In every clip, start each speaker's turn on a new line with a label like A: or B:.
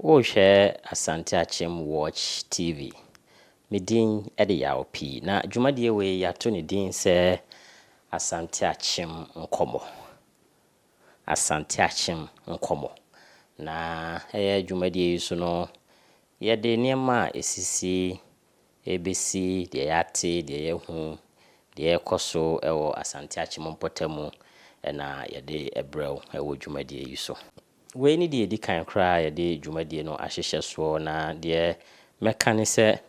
A: Worehwɛ Asante Akyem Watch TV. Me din de Yaw Pii, na dwumadie wei yɛato ne din sɛ Asante Akyem Nkɔmmɔ. Asante Akyem Nkɔmmɔ. Na ɛyɛ dwumadie yi so no, yɛde nneɛma a ɛsisi, ɛrebɛsi, deɛ yɛate, deɛ yɛahu, deɛ ɛrekɔ so wɔ Asante Akyem mpɔtamu na yɛde brɛ wo wɔ dwumadie yi so. Wei ne deɛ ɛdi kan koraa a yɛde dwumadie no ahyehyɛ soɔ na deɛ mɛka ne sɛ,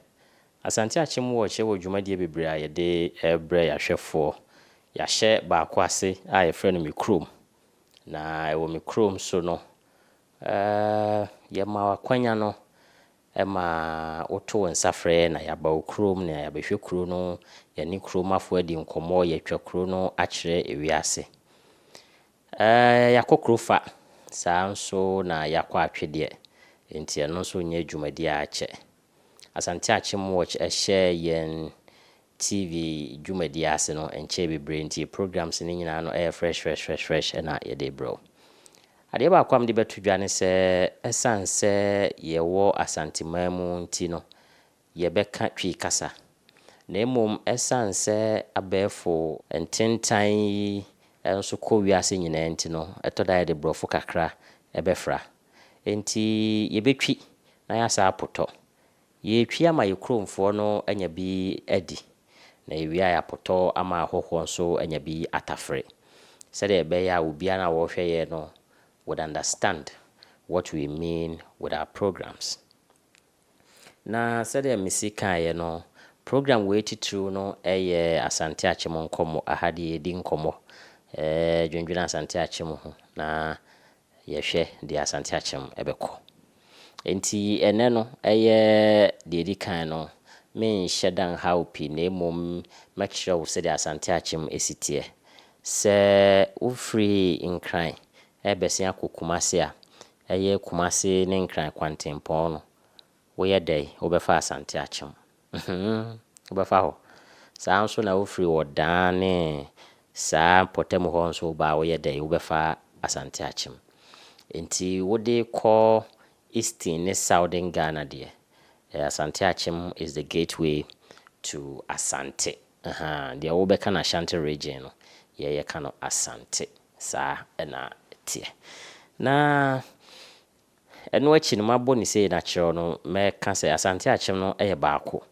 A: Asante Akyem Watch wɔ dwumadie bebree a yɛde rebrɛ yɛn ahwɛfoɔ. Yɛahyɛ baako ase a yɛfrɛ no Me Kurom. Na ɛwɔ Me Kurom so no, yɛma wo akwanya no ma woto wo nsa frɛ yɛn na yɛaba wo kurom na yɛabɛhwɛ kuro no, yɛne kuromafoɔ adi nkɔmmɔ, yɛatwa kuro no akyerɛ wiase. Ɛɛ, yɛakɔ kuro fa. Saa ara nso na yɛakɔ atwedeɛ, enti ɛno nso nyɛ dwumadie ara kyɛ. Asante Akyemwatch hyɛɛ yɛn TV dwumadie ase no nkyɛɛ bebree nti programmes no nyinaa no yɛ fresh fresh fresh fresh na yɛde rebrɛ wo. Adeɛ baako a mede bɛto dwa ne sɛ, ɛsiane sɛ yɛwɔ Asanteman mu nti no, yɛbɛka Twi kasa, na mmom ɛsiane sɛ abɛɛfo ntentan yi nso kɔ wiase nyinaa nti no, ɛtɔ da a yɛde Borɔfo kakra bɛfra. Enti yɛbɛtwi na yɛasan apotɔ. Yɛretwi ama yɛn kuromfoɔ no anya bi adi, na yɛwie a yɛapotɔ ama ahɔhoɔ nso anya bi atafere, sɛdeɛ ɛbɛyɛ a obiara no a ɔrehwɛ yɛn no would understand what we mean with our programs. Na sɛdeɛ mesi kaeɛ no, program wei titiriw no yɛ Asante Akyem Nkɔmmɔ. Aha deɛ yɛdi nkɔmmɔ dwendwene Asante Akyem ho na yɛhwɛ deɛ Asante Akyem bɛkɔ. Enti ɛnnɛ no, ɛyɛ deɛ ɛdi kan no, merenhyɛ da nha wo pii na mmom mɛkyerɛ wo sɛdeɛ Asante Akyem si teɛ. Sɛ wofiri Nkran rebɛsen akɔ Kumasi a, Ɛyɛ Kumasi ne Nkran kwantempɔn no, woyɛ dɛn wobɛfa Asante akyem? Mhmm, wobɛfa hɔ. Saa ara nso na wofiri Ɔdaa ne saa mpɔtam hɔ nso woba a woyɛ dɛn wobɛfa Asante akyem. Enti wode kɔ Eastern ne Southern Ghana deɛ, Asante akyem is the gateway to Asante. Ahaa, deɛ wobɛka no Ashanti region no, yɛn yɛka no Asante. Saa na ɛteɛ. Na ɛno akyi no, mabɔ no sei na kyerɛw no, mɛka sɛ Asante Akyem no yɛ baako.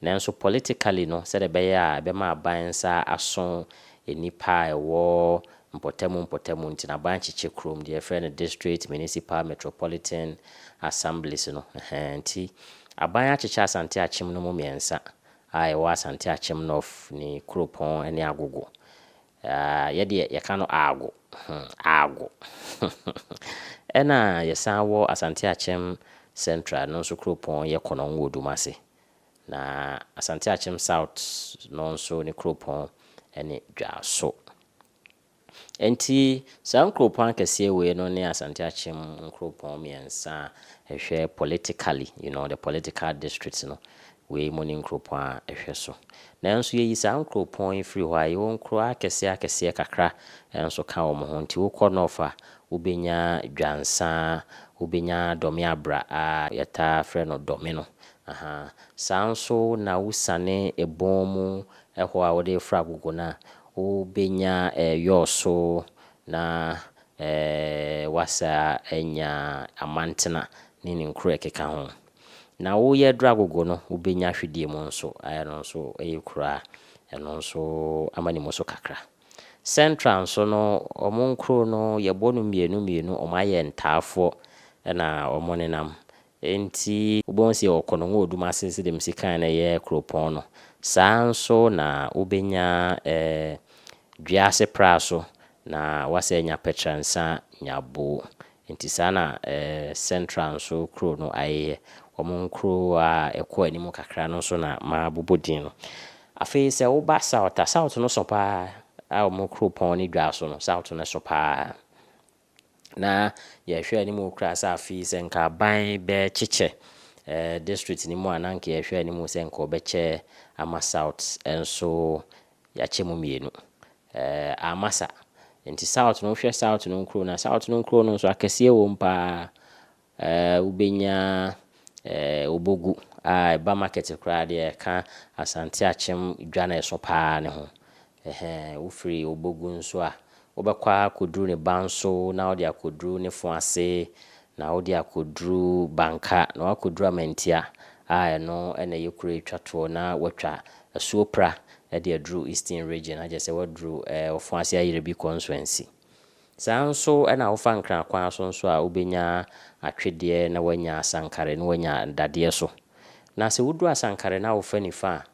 A: Nanso politically no, sɛdeɛ ɛbɛyɛ a ɛbɛma aban nsa aso nnipa a ɛwɔ mpɔtamu mpɔtamu nti no, aban kyekyɛ kurom, deɛ yɛfrɛ no district, municipal, metropolitan assemblies no, ɛhɛɛ, nti aban akyekyɛ Asante Akyem no mu mmiɛnsa a ɛwɔ Asante Akyem North ne Kuropɔn ne Agogo. Yaa yɛ deɛ yɛka no aago hmm aago Ɛna yɛsan wɔ Asante Akyem Central no nso kuropɔn yɛ Kɔnɔn wɔ Dumase. Na Asante Akyem South no nso ne kuropɔn ne Dwaso. Enti saa nkuropɔn akɛseɛ wei no ne Asante Akyem nkuropɔn mmiɛnsa a ɛhwɛ politically you know the political districts no Wei mu ne nkuropɔn a ɛhwɛ so. Nanso yɛyi saa nkuropɔn yi firi hɔ a, yɛwɔ nkuro akɛseɛ akɛseɛ kakra nso ka wɔn ho. Nti wokɔ North a, wobɛnya Dwansa, wobɛnya Dɔme Abra a yɛtaa frɛ no Dɔme no. Ahaa. Saa nso na wosiane Ebon mu hɔ a wode reforo Agogo no a, wobɛnya ɛɛ Yɔɔso na ɛɛ woasan anya Amantena ne ne nkuro a ɛkeka ho. Na wo yɛ aduru agogo no wo bɛnya ahwedeɛ mu nso a ɛno nso yɛ kuro a ɛno nso ama ne mu so kakra. Central nso no wɔn nkuro no yɛ bɔ no mmienu mmienu wɔn ayɛ ntaafoɔ na wɔn ne nam nti wo bɛhu sɛ yɛ wɔ Konongo Odumase sɛdeɛ me si kaeɛ no ɛyɛ kuropɔn no saa nso na wo bɛnya ɛɛ Dwease Praso na wo asɛ anya Pɛtransa Nyabo Nti saa na Central nso kuro no ayeyɛ. Wɔn nkuro a ɛkɔ anim kakra no nso na mabobɔ din no. Afei sɛ woba South a, South no sõ pa ara. Wɔn kuropɔn ne dwa so no, South no sõ pa ara. Na yɛhwɛ anim koraa sɛ afei sɛ nka aban bɛkyekyɛ district no mu a, na nka yɛhwɛ anim sɛ nka wɔbɛkyɛ ama South nso Yɛakyɛ mu mmienu. Ɛɛ amma sa. Nti South no, wohwɛ South no nkuro no a, South no nkuro no nso akɛseɛ wɔ mu pa ara. Ɛɛ wobɛnya ɛɛ Obogu a ɛba market koraa deɛ ɛka Asante Akyem dwa no a ɛso pa ara no ho. Ɛhɛɛ wofiri Obogu nso a, Wobɛkɔ ara akɔduru ne ban so na wode akɔduru ne fo ase na wode akɔduru Banka na woakɔduru Amantia a ɛno na ɛyɛ kuro a ɛtwa toɔ na woatwa asuo Pra de aduru Eastern Region na kyerɛ sɛ woaduru Ofon Ase Ayerɛbi Consuency. Saa ara nso na wofa Nkran kwan so nso a wobɛnya Atwedeɛ na woanya Asankare na woanya Dadeɛ so. Na sɛ woduru Asankare na wofa nifa a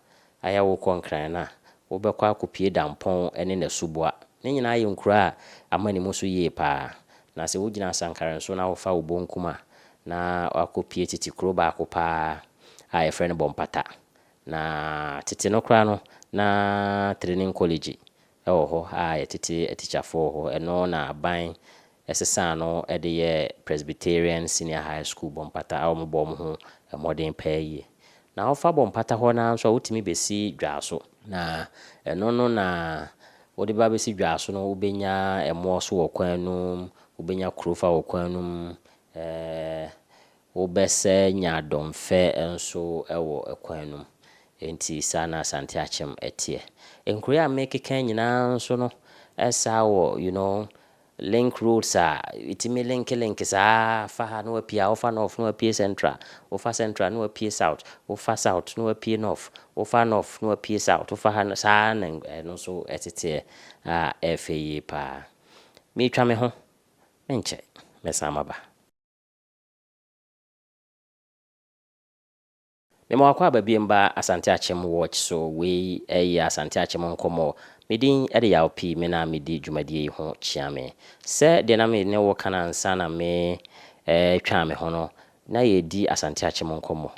A: Ayɛ wo kɔ Nkran no a, wobɛkɔ akɔpue Dampɔn ne Nasuboa. Ne nyinaa yɛ nkuro a amane mu so yie pa ara. Na sɛ wogyina Asankare nso na wofa wo bonkum a, na woakɔpue tete kuro baako pa ara a wɔfrɛ no Bɔmpata. Na tete no koraa no, na Trenin Kɔlegyi wɔ hɔ a yɛtete atikyafo wɔ hɔ. Ɛno na aban sesaa no de yɛɛ Presbyterian Senior High School Bɔ Mpata a wɔbɔ wɔn ho mmɔden paa yie. Na wofa Bɔ Mpata hɔ no ara nso a, wotumi bɛsi Dwaaso. Na ɛno no na wode ba bɛsi Dwaaso no, wobɛnya Ɛmoɔ so wɔ kwan no mu, wobɛnya Kurofa wɔ kwan no mu, ɛɛ Wobɛsɛ nya dɔmfɛ nso wɔ kwan no mu. Enti saa na Asante Akyem teɛ. Nkuro yi a meekeka yi nyinaa nso no saa wɔ you know link roads a ɛtumi linke linke saa ara, fa ha na wapue ha, wofa North na wapue Central, wofa Central na wapue South, wofa South na wapue North, wofa North na wapue South, wofa ha na, saa ara na ɛno nso teteɛ a ɛyɛ fɛ yie pa ara. Meretwa me ho, menkyɛ mɛsan maba. Me ma wakɔ aba biem ba Asante Akyem watch so wei yɛ Asante Akyem nkɔmmɔ. Me din de Yaw Pii me na me di dwumadie yi ho kyia me. Sɛ deɛ na me ne wo ka no ansa na me retwa me ho no na yɛredi Asante Akyem nkɔmmɔ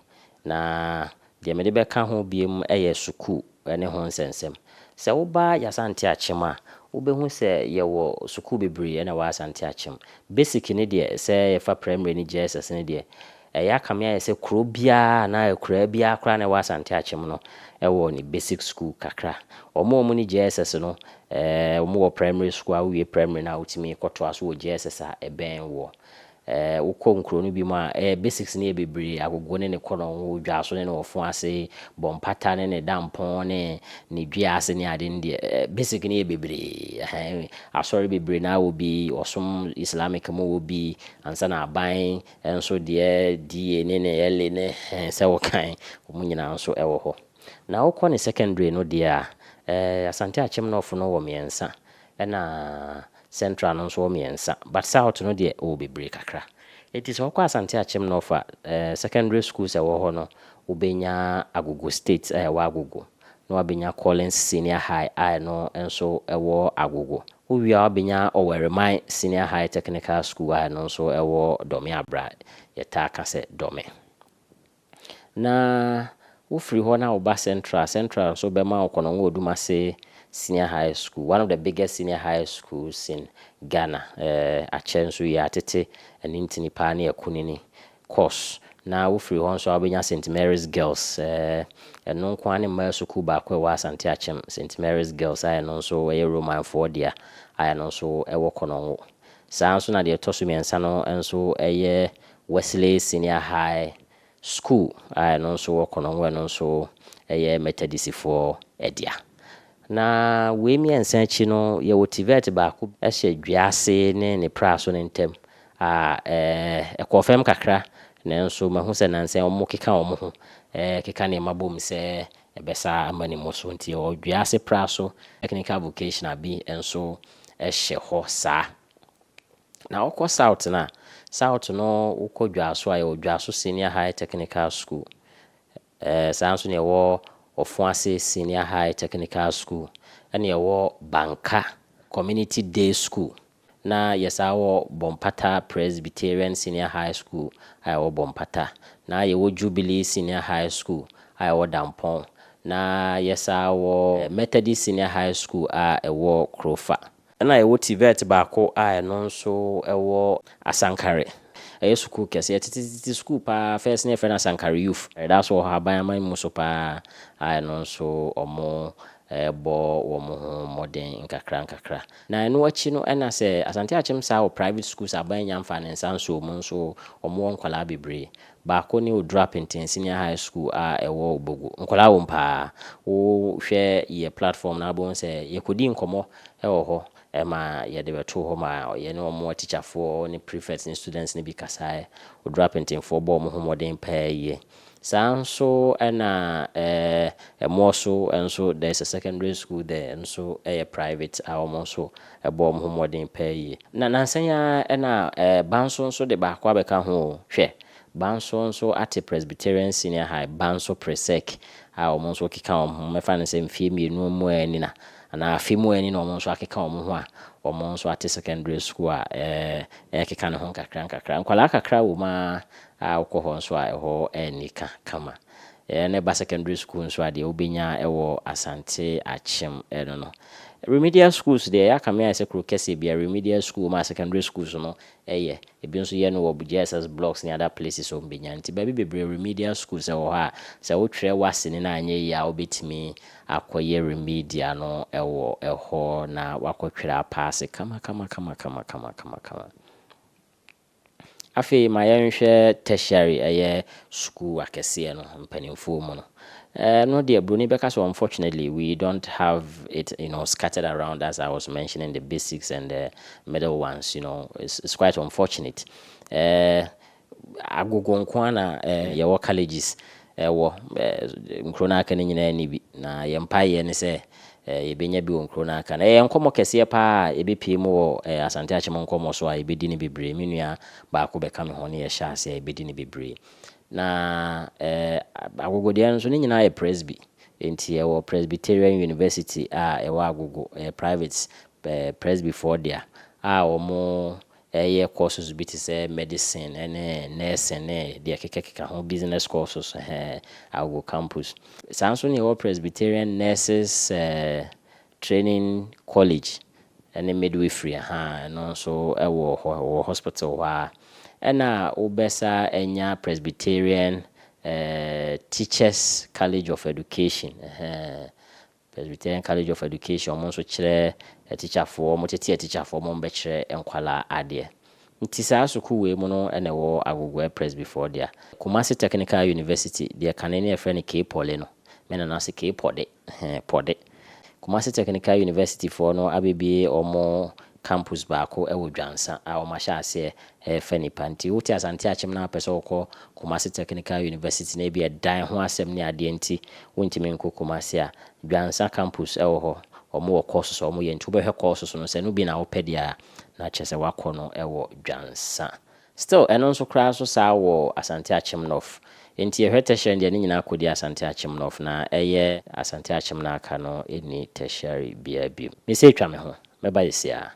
A: na Deɛ mede bɛka ho biom yɛ sukuu ne ho nsɛnsɛm. Sɛ woba Y'Asante Akyem a, wobɛhu sɛ yɛwɔ sukuu bebree na ɛwɔ Asante Akyem. Basic no deɛ, sɛ yɛfa Primary ne JSS no deɛ, ɛyɛ akame ayɛ sɛ kuro biara anaa akuraa biara koraa na ɛwɔ Asante Akyem no wɔ ne basic sukuu kakra. Wɔn a wɔnni JSS no, wɔwɔ Primary sukuu a wowie Primary no a wotumi kɔtoa so wɔ JSS a ɛbɛn woɔ. Eh, wokɔ nkuro no binom a, eh, basics no yɛ bebree, agogo ne ne kɔnɔn ho, dwa so ne ne wɔfo ase, bɔ mpata ne ne da mpɔn ne ne dua ase ne ade no deɛ, eh, basic no yɛ bebree. Ɛhɛn, asɔre bebree no ara wɔ bi, wɔsom Islamic mu wɔ bi, ansa na aban nso deɛ, DA ne ne LA ne, eh, sɛ wokan, wɔn nyinaa nso wɔ hɔ. Na wokɔ ne secondary no deɛ a, eh, Asante Akyem North no wɔ mmiɛnsa, ɛna. Central no nso wɔ mmiɛnsa but South no deɛ ɔwɔ bebree kakra. Nti sɛ wokɔ Asante Akyem North a, eh, secondary schools a ɛwɔ hɔ no, wobɛnya Agogo State a ɛwɔ Agogo, na wabɛnya Collins Senior High a ɛno nso ɛwɔ Agogo. Wowie a wabɛnya Ɔwɛreman Senior High Technical School a ɛno nso ɛwɔ Dɔme Abra, yɛtaa ka sɛ Dɔme. Na wofiri hɔ na woba Central, Central nso bɛma wo Konongo Odumase Senior High School, one of the biggest senior high schools in Ghana. Eh, akyɛ nso yɛ atete anintini paa ne akunini course. Na wofiri hɔ nso a wobɛnya St. Mary's Girls, eh, ɛno nko ara ne mmaa sukuu baako a ɛwɔ Asante Akyem, St. Mary's Girls a ɛno nso ɛyɛ Romanfoɔ dea a ɛno nso ɛwɔ Konongo. Saa ara nso na deɛ ɛtɔ so mmiɛnsa no nso yɛ Wesley Senior High School a ɛno nso wɔ Konongo, ɛno nso yɛ Methodistfoɔ dea. Na wei mmiɛnsa akyi no, yɛwɔ TVET baako hyɛ Dwease ne ne Praso no ntam a ɛkɔɔ fam kakra nanso mahu sɛ nnansa yi wɔkeka wɔn ho keka nneɛma bom sɛ ɛbɛsa ama ne mu so nti yɛwɔ Dwease Praso Technical Vocational bi nso hyɛ hɔ saa. Na wokɔ South no a, South no wokɔ Dwaso a, yɛwɔ Dwaso Senior High Technical School. Ɛɛ, saa nso na yɛwɔ Ɔfoase Senior High Technical School, ɛna yɛwɔ Banka Community Day School, na yɛsan wɔ Bɔmpata Presbyterian Senior High School a ɛwɔ Bɔmpata, na yɛwɔ Jubilee Senior High School a ɛwɔ Dampɔn, na yɛsan wɔ Methodist Senior High School a ɛwɔ Krofa. Ɛna yɛwɔ TVET baako a ɛno nso ɛwɔ Asankare. Ɛyɛ sukuu kɛse, ɛtetetete sukuu paa, first na yɛfrɛ no Asankare Youth. Ɛda so wɔ Haban aman mu so paa a ɛno nso wɔbɔ wɔn ho mmɔden nkakra nkakra. Na ɛno akyi no ɛna sɛ Asante Akyem saa wɔ private schools, Aban Nyamfa ne nsa nsɔɔ mu nso wɔwɔ nkwadaa bebree. Baako ne Oduru Apenten Senior High School a ɛwɔ Obogu. Nkwadaa wɔ mu pa ara. Wo hwɛ yɛ platform no a, wobɛhu sɛ yɛkɔdii nkɔmmɔ wɔ hɔ ma yɛde bɛtoo hɔ maa yɛne wɔn atikyafoɔ ne prefects ne students no bi kasaeɛ. Oduru Apentenfoɔ bɔɔ wɔn ho mmɔden paa yie. Saa ara nso na Ɛmoɔ so nso, there is a secondary school there, ɛno nso yɛ private a wɔn nso Ɛbɔɔ wɔn ho mmɔden paa yie. Na nnansa yi ara na Banso nso de baako abɛka ho o. Hwɛ! Banso nso ate Presbyterian Senior High, Banso Presec, a wɔn nso rekeka wɔn ho. Mɛfa no sɛ mfeɛ mmienu mmɔɛ ni na, anaa afe mmɔɛ ni na wɔn nso akeka wɔn ho a wɔn nso ate secondary school a ɛrekeka ne ho nkakrankakra. Nkwadaa kakra wom ara a wokɔ hɔ nso a ɛhɔ anni ka kama. Ɛɛ na ɛba secondary school nso a deɛ wobɛnya wɔ Asante Akyem no no remedial schools deɛ yɛaka me ayɛ sɛ kuro kɛseɛ biara remedial school wɔ mu a secondary schools no yɛ ebi nso yɛ no wɔ JSS blocks ne other places a wɔbɛnya nti baabi bebree remedial schools wɔ hɔ a sɛ wotwerɛ w'asene no anyɛ yie a wobɛtumi akɔyɛ remedial no wɔ hɔ na wakɔtwerɛ apaase kama kama kama kama kama kama kama. Afei ma yɛnhwɛ tertiary, ɛyɛ sukuu akɛseɛ no mpanimfoɔ mu no. Ɛno deɛ broni bɛka sɛ unfortunately we don't have it you know scattered around as I was mentioning the basics and the middle ones you know it's, it's quite unfortunate. Eh, agogo nko ara na eh, yɛwɔ colleges. ɛwɔ nkuro no a aka no nyinaa nni bi, na yɛn mpaeɛ ne sɛ yɛbɛnya bi wɔ nkuro no a aka no. Ɛyɛ nkɔmmɔ kɛseɛ pa ara a yɛbɛpue mu wɔ Asante Akyem nkɔmmɔ so a yɛbɛdi no bebree. Me nua baako bɛka me ho ne yɛhyɛ aseɛ a yɛbɛdi no bebree. Na Agogodeɛ no nso, ne nyinaa yɛ Presby, enti yɛwɔ Presbyterian University a ɛwɔ Agogo, ɛyɛ private, Presbyfoɔ dea a wɔn Ɛyɛ courses bi te sɛ medicine ne nursing ne deɛ ɛkekakeka ho, business courses hɛɛ, Agogo campus. Saa nso na yɛwɔ Presbyterian Nurses Training College ne Midwifery ha a, ɛno nso wɔ hɔ, ɛwɔ hospital hɔ ara. Ɛna wobɛsa anya Presbyterian Teachers College of Education hɛɛ, Presbyterian College of Education ɔmo nso kyerɛ atikyafoɔ, ɔmo tete atikyafoɔ ɔmo bɛkyerɛ nkwalaa adeɛ. Nti saa sukuu wei mu no na ɛwɔ Agogoɛ Presbyfoɔ dea. Kumasi Technical University deɛ kane no yɛfrɛ no K-Poly no, me nana se K-Pɔde, hɛn, Pɔde. Kumasi Technical University foɔ no abɛbue ɔmo campus baako wɔ Dwansa a wɔahyɛ aseɛ refa nnipa. Nti wote Asante akyem na wopɛ sɛ wokɔ Kumasi Technical University na ebia dan ho asɛm ne adeɛ nti wontumi nkɔ Kumasi a, Dwansa campus wɔ hɔ. Wɔwɔ courses a wɔyɛ nti wobɛhwɛ courses no sɛ ɛno bi na wopɛ deɛ a, na kyerɛ sɛ woakɔ no wɔ Dwansa. Still ɛno nso koraa nso saa wɔ Asante Akyem North. Enti yɛhwɛ tertiary deɛ ne nyinaa kɔdi Asante Akyem North na ɛyɛ Asante Akyem na aka no nni tertiary biara bio. Me sɛ twa me ho, mɛba yɛsiaa.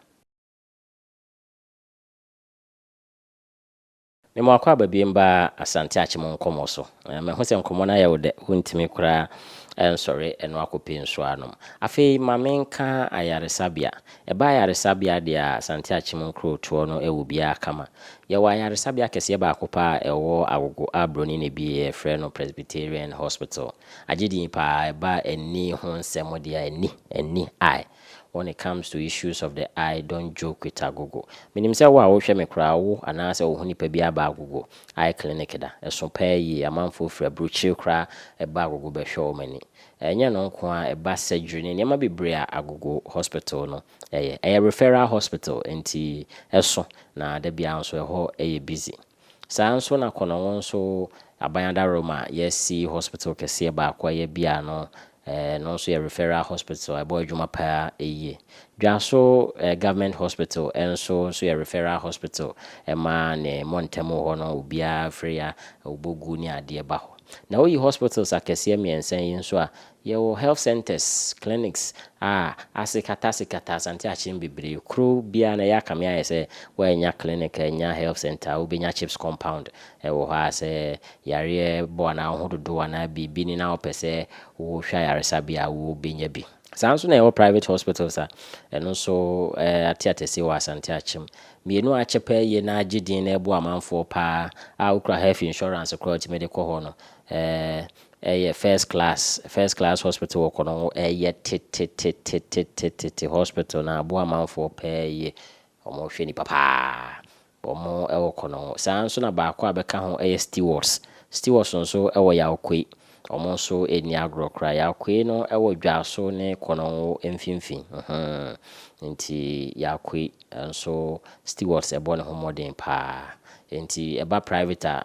A: Me mo akɔ aba biem ba Asante Akyem nkɔmɔ so. Me ho sɛ nkɔmɔ no ayɛ wo dɛ, wo ntumi koraa nsɔre ɛno akɔpɛ nsuo anom. Afei ma me nka ayaresabea. Ɛba ayaresabea deɛ a, Asante Akyem nkurotoɔ no wɔ biara kama. Yɛwɔ ayaresabea kɛseɛ baako paa a ɛwɔ Agogo a broni na ɛbieɛ yɛfrɛ no Presbyterian Hospital. Agye din paa, ɛba ani ho nsɛm deɛ a ani, ani, eye, when it comes to issues of the eye don't joke with Agogo. Menim sɛ wo a wohwɛ me koraa wo anaa sɛ wohu nipa biara ba Agogo eye clinic da. Ɛso paa yie, amanfoɔ firi aburokyire koraa ba Agogo bɛhwɛ wɔn ani. Ɛnyɛ ɛno nko ara, ɛba surgery ne nneɛma bebree a Agogo Hospital no yɛ. Ɛyɛ referral hospital nti ɛso na da biara nso ɛhɔ yɛ busy. Saa ara nso na Konongo nso Aban Adaworoma a yɛasi hospital kɛseɛ baako a ɛyɛ Abia no, ɛno nso yɛ referral hospital a ɛbɔ adwuma pa ara yie. Dwaso Government Hospital nso nso yɛ referral hospital ma ne mmɔntam hɔ no obiara firi a ɔbɔ gu ne adeɛ ba hɔ. Na woyi hospitals akɛseɛ mmiɛnsa yi nso a, yɛwɔ health centres, clinics a asekatasekataa Asante akyem bebree. Kuro biara no ɛyɛ akame ayɛ sɛ woannya clinic, annya health centre a wobɛnya CHPS compound wɔ hɔ a sɛ yareɛ bɔ anaa wo ho dodo anaa biribi ni na wopɛ sɛ wohwɛ ayaresa bi a wobɛnya bi. Saa nso na yɛwɔ private hospitals a ɛno nso ateatɛsie wɔ Asante akyem. Mmienu a kyɛpɛ ye na agye din na ɛboa amanfoɔ paa a wokura health insurance koraa a wotumi de kɔ hɔ no yɛ first class. First class hospital wɔ kɔ no ho yɛ tetetetetetete hospital na aboa amanfoɔ paa yie. Wɔhwɛ nnipa paa. Wɔn wɔ kɔ no ho. Saa ara nso na baako a bɛka ho yɛ Stewards. Stewards nso wɔ Yaokoi. Wɔn nso nni agorɔ koraa. Yaakoe no wɔ Dwaso ne Kɔnɔnwo mfimfini. Mhmm. Enti Yaakoe nso stewards bɔ ne ho mmɔden paa. Enti ɛba private a,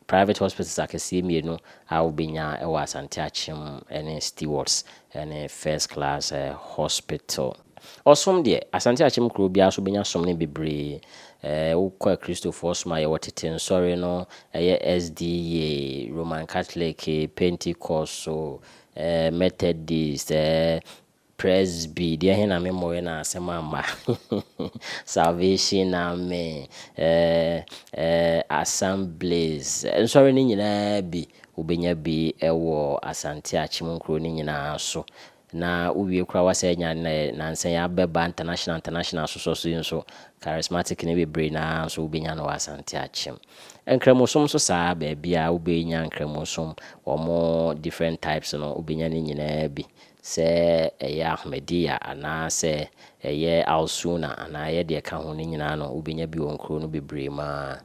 A: private hospitals akɛseɛ mmienu a wobɛnya wɔ Asante Akyem ne stewards ne first class hospital. Ɔsom deɛ, Asante Akyem kuro biara so bɛnya som no bebree. Ɛɛ, wokɔ Akristofoɔ som a, yɛwɔ Tete Nsɔre no, ɛyɛ SDA, Roman Catholic, Pentecost so, ɛɛ, Methodist, ɛɛ, Presby, deɛ he na me mmɔeɛ na asɛm amma? Salvation Army, ɛɛ, ɛɛ, Assemblies, Nsɔre no nyinaa bi, wobɛnya bi wɔ Asante Akyem nkuro no nyinaa so. Na wowie koraa woasɛ anya nnɛ nansa yi abɛba international international asosɔ so yi nso charismatic no bebree no ara nso wobɛnya no wɔ Asante akyem. Nkramosom nso saa ara baabiara wobɛnya nkramosom wɔn different types no wobɛnya ne nyinaa bi sɛ ɛyɛ Ahmadiyya anaa sɛ ɛyɛ Al-Sunnah anaa ɛyɛ deɛ ɛka ho no nyinaa no wobɛnya bi wɔ nkuro no bebree mu ara.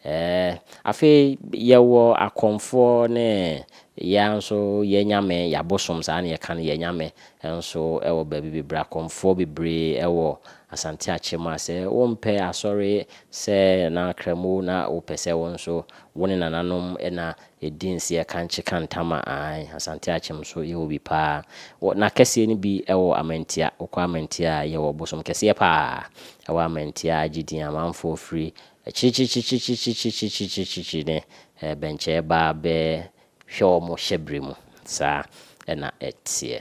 A: Ɛɛ, afei yɛwɔ akɔmfoɔ ne yɛa nso yɛn nyame, yɛabosom saa na yɛka no, yɛn nyame nso wɔ baabi bebree. Akɔmfoɔ bebree wɔ Asante Akyem a sɛ wompɛ asɔre sɛ na Kramo na wopɛ sɛ wo nso wo ne nananom na ɛdi nseɛ kankye ka ntama a, ae, Asante Akyem nso yɛwɔ bi paa. Wɔ, n'akɛseɛ no bi wɔ Amantia. Wokɔ Amantia a, yɛwɔ bosom kɛseɛ paa wɔ Amantia a agye din. Amanfoɔ firi Akyirikyirikyirikyirikyirikyirikyirikyirikyiri ne bɛnkyɛɛ baa bɛ hwɛ wɔn hyɛbere mu. Saa na ɛteɛ.